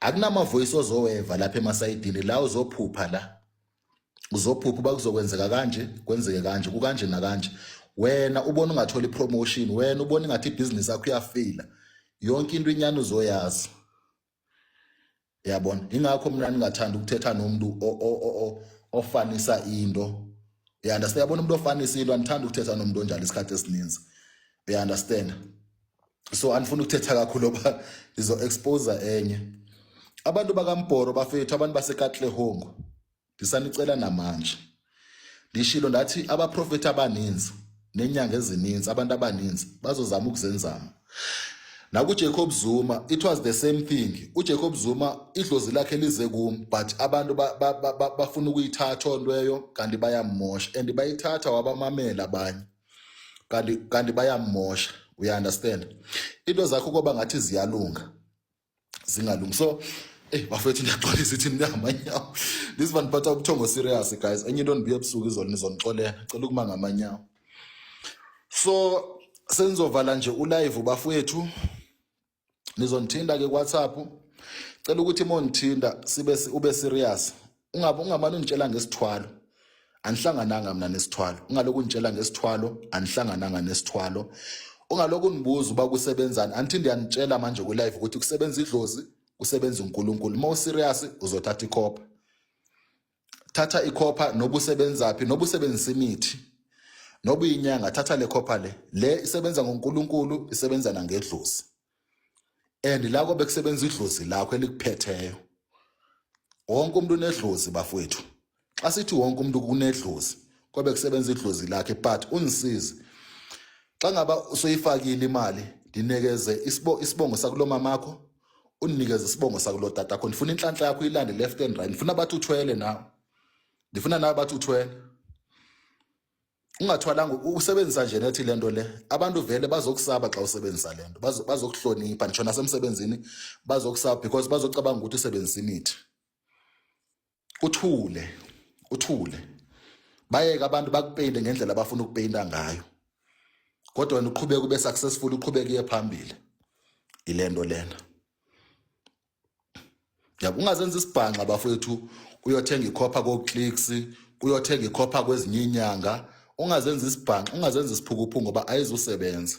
akunamavoyisi ozoweva lapha emasayidini la uzophupha la uzophupha uba kuzokwenzeka kanje kwenzeke kanje kukanje nakanje wena ubona ungathola ipromotion wena ubona ingathi ibhizinisi yakho iyafila yonke into inyani uzoyazi yabona ingakho mina ningathanda ukuthetha nomuntu ofanisa into you understand yabona umuntu ofanisa into anithanda ukuthetha nomuntu onjalo isikhathi esininzi you understand so andifuna ukuthetha kakhulu oba ndizo-exposa enye abantu bakambhoro bafethu abantu basekatlehongo ndisanicela namanje ndishilo ndathi abaprofethi abaninzi nenyanga ezininzi abantu abaninzi bazozama ukuzenzama nakujacob zuma it was the same thing ujacob zuma idlozi lakhe lize kum but abantu bafuna ukuyithatha ontweyo kanti bayammosha and bayithatha wabamamela abanye kanti kanti bayamosha uy understand into zakho koba ngathi ziyalunga zingalungi so Hey bafethu niyagcwalisa ithini ngamanyawo. This one phatha ubuthongo serious guys. Enye into nibuye ebusuku izolo nizonixolela. Cela ukuma ngamanyawo. So senizovala nje ulive bafethu. nizongithinta-ke ku-whatsapp cela ukuthi uma ungithinta sibe ube serious ungabe ungamane ungitshela ngesithwalo anihlangananga mina nesithwalo ungalokhu ungitshela ngesithwalo anihlangananga nesithwalo ungalokhu unibuza uba kusebenzani angithi ndiyanitshela manje kwi-live ukuthi kusebenza idlozi kusebenza unkulunkulu uma userious uzothatha ikhopha thatha ikhopha noba usebenzaphi noba usebenzisa imithi noba uyinyanga thatha le khopha le le isebenza ngonkulunkulu isebenza nangedlozi and la kobe kusebenza idlozi lakho elikuphetheyo wonke umuntu unedlozi bafowethu xa sithi wonke umuntu kunedlozi kobe kusebenza idlozi lakhe but ungisize xa ngaba usoyifakile imali ndinikeze isibongo sakulo mamakho undinikeze isibongo sakulo tata kho ndifuna inhlanhla yakho ilande left and right ndifuna bathi uthwele nawe ndifuna nawe bathi uthwele ungathwalanga usebenzisa nje nethi lento le abantu vele bazokusaba xa usebenzisa lento bazokuhlonipha ngisho nasemsebenzini bazokusaba because bazocabanga ukuthi usebenzisa imithi uthule uthule bayeke abantu bakupeyinte ngendlela abafuna ukupeyinta ngayo kodwa wena uqhubeke ube successful uqhubeke iye phambili ilento lena yabo ungazenza isibhanxa bafowethu uyothenga ikhopha ko-clicks uyothenga ikhopha kwezinye inyanga ungazenza isibhanxa ungazenza isiphukuphu ngoba ayizusebenza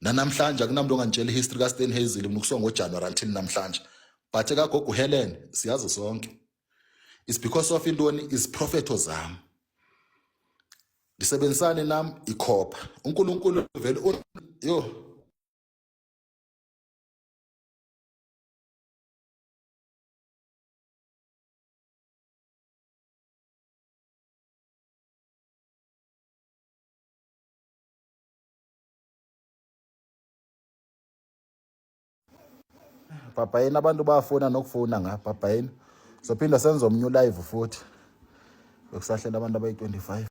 nanamhlanje akunamntu ongangitshela ihistory kaStan Hazel mina ukusonga ngoJanuary until namhlanje but ekagogo uHelen siyazi sonke is because of intoni iziprofetho zami ngisebenzisane nami ikhopha uNkulunkulu vele yo bhabhayini abantu bafuna nokufuna nga bhabhayini sophinda senze omnye ulive futhi bekusahlela abantu abayi-25